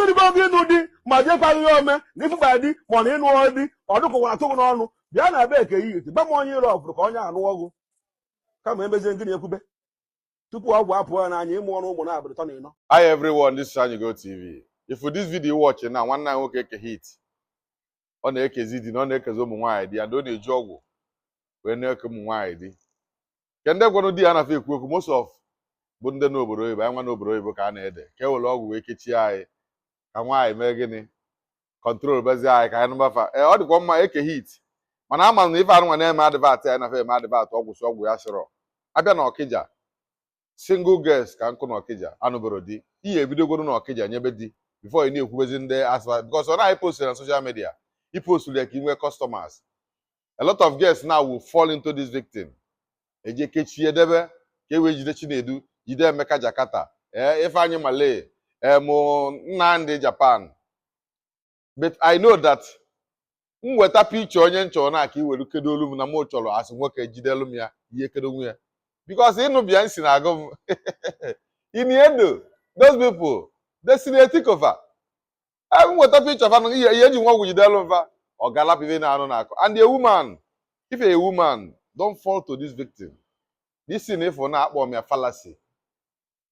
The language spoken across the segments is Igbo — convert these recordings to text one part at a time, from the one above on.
i rugo ogo ịnụ di ma jekwaghị ya ome na ịfụba di mana ịnụ di ọ dụkọwa atụ gị n'ọnụ bịa na be Eke Hit gba m onye ịrụ ọfụrụ ka onye a nụọ gị kama emezie gịnị ekwube tupu ọgwụ apụ ya n'anya ị mụọrọ ụmụ na-abụrụ ịtọ na ịnọ Hi everyone, this is Anyigo TV. Ịfụ this video you watching now, nwa nwoke Eke Hit. ọ na-ekezi di na ọ na-ekezi ụmụ nwaanyị di and ọ na-eji ọgwụ wee na-eke ụmụ nwaanyị di ke ndị gwara di ya na fa ekwu okwu most of bụ ndị n'obodo oyibo anyị nwa n'obodo oyibo ka a na-ede ka e were ọgwụ wee kechie anyị ka nwaanyị mee gịnị control bezi anyị ka anyị nụba fa ee ọ dịkwa mma eke hit mana ama na ife anụnwa na-eme advert anyị na fa eme advert ọgwụ sị ọgwụ ya sịrọ abịa na ọkịja single girls ka nkụ na ọkịja anụbero di ị ya-ebidogodu na ọkịja nyebe di before ị na-ekwubezi ndị asaba because ọ na ị post na social media i post ya ka ị nwee customers a lot of girls now will fall into this victim eji ekechie debe ka e wee jide chinedu jide emeka jakarta ee ifeanyị malay em nnamdị japan but I know that m weta picture onye m chọrọ na ka i were kedoolu m na mụ chọrọ as nwoke jidelu m ya ị ya-ekedonwu ya because ịnụ Beyonce na-agụ m Ini Edo those people Destiny Etiko fa ebe m weta picture fa na ihe ihe eji nwa ọgwụ jidelu m fa ọ ga-alapụ ife na-anụ na-akọ and a woman if a woman don't fall to this victim this thing ịfụ na-akpọ m ya fallacy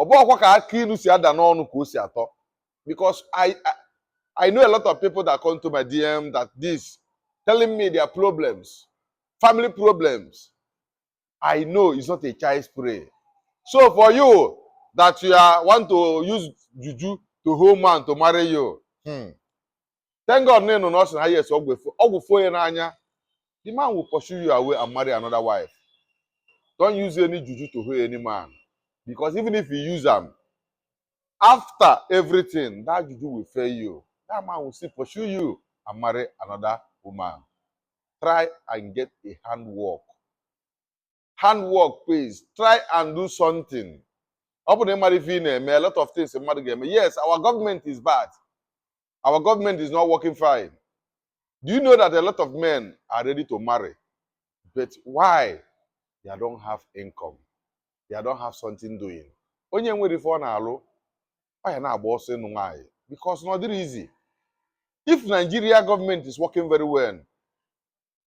ọ bụ ọkwa ka aka ilu si ada n'ọnụ ka o si atọ because I, I I know a lot of people that come to my DM that this telling me their problems, family problems. I know it's not a child's play. So for you that you are, want to use juju to hold man to marry you, hmm, thank God na ịnụ na ọ sị na yes ọgwụ efo ọgwụ fo ya n'anya the man will pursue you away and marry another wife don't use any juju to hold any man because even if you use am after everything that juju will fail you that man will still pursue you and marry another woman try and get a handwork handwork pays try and do something ọ bụ na ị mara ife ị na-eme a lot of things mmadụ ga-eme yes our government is bad our government is not working fine do you know that a lot of men are ready to marry but why they don't have income they don't have something doing onye enwerọ ife ọ na-alụ ọ ya na-agba ọsọ ịnụ nwaanyị because na ọ dịrọ easy if Nigeria government is working very well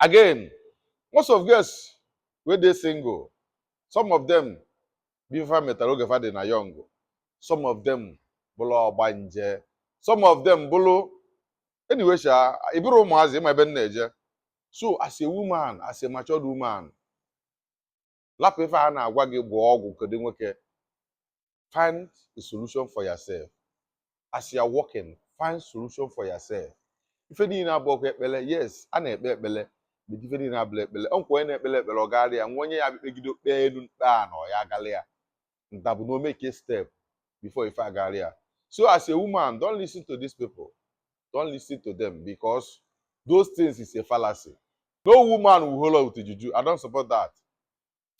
again most of girls wey dey single some of them bụ ife fa metara oge fa dị na young some of them bụrụ ọgbanje some of them bụrụ anyway sha ị bụrọ ụmụazị ị ma ebe m na-eje so as a woman as a matured woman lapụ ife a na-agwa gị gwọọ ọgwụ kedo nwoke find a solution for yourself as you are working find solution for yourself ife niile abụrọkwa ekpele yes a na-ekpe ekpele but ife niile abụrọ ekpele o nwekwa onye na-ekpele ekpele ọ gaara ya nwee onye ya-ekpegide o kpee enu kpee ana ọ ya agala ya ndabụ na ọ make a step before ife agara ya so as a woman don't listen to these people don't listen to them because those things is a fallacy no woman will hold up with juju i don't support that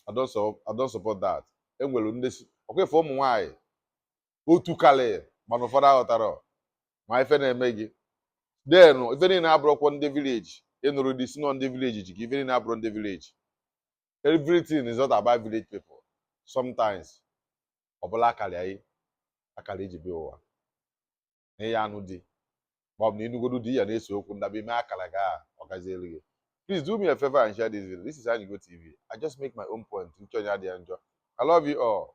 i don't support i don't support that enwere ndị si ọkwa ife ụmụ nwaanyị otu kalị mana ụfọdụ aghọtarọ ma ife na-eme gị then ife niile abụrọkwa ndị village ị nụrọ di sị na ọ ndị village ji gị ife niile abụrọ ndị village everything is not about village people sometimes ọ bụlụ akara anyị akara e ji bịa ụwa na ị ya-anụ di ma ọ bụ na ịnụgodu di ya na-ese okwu ndaba ime akara gị ọ gazielu gị please do me a favor and share this video this is Anyigo TV I just make my own point uche onye adị ya njọ I love you all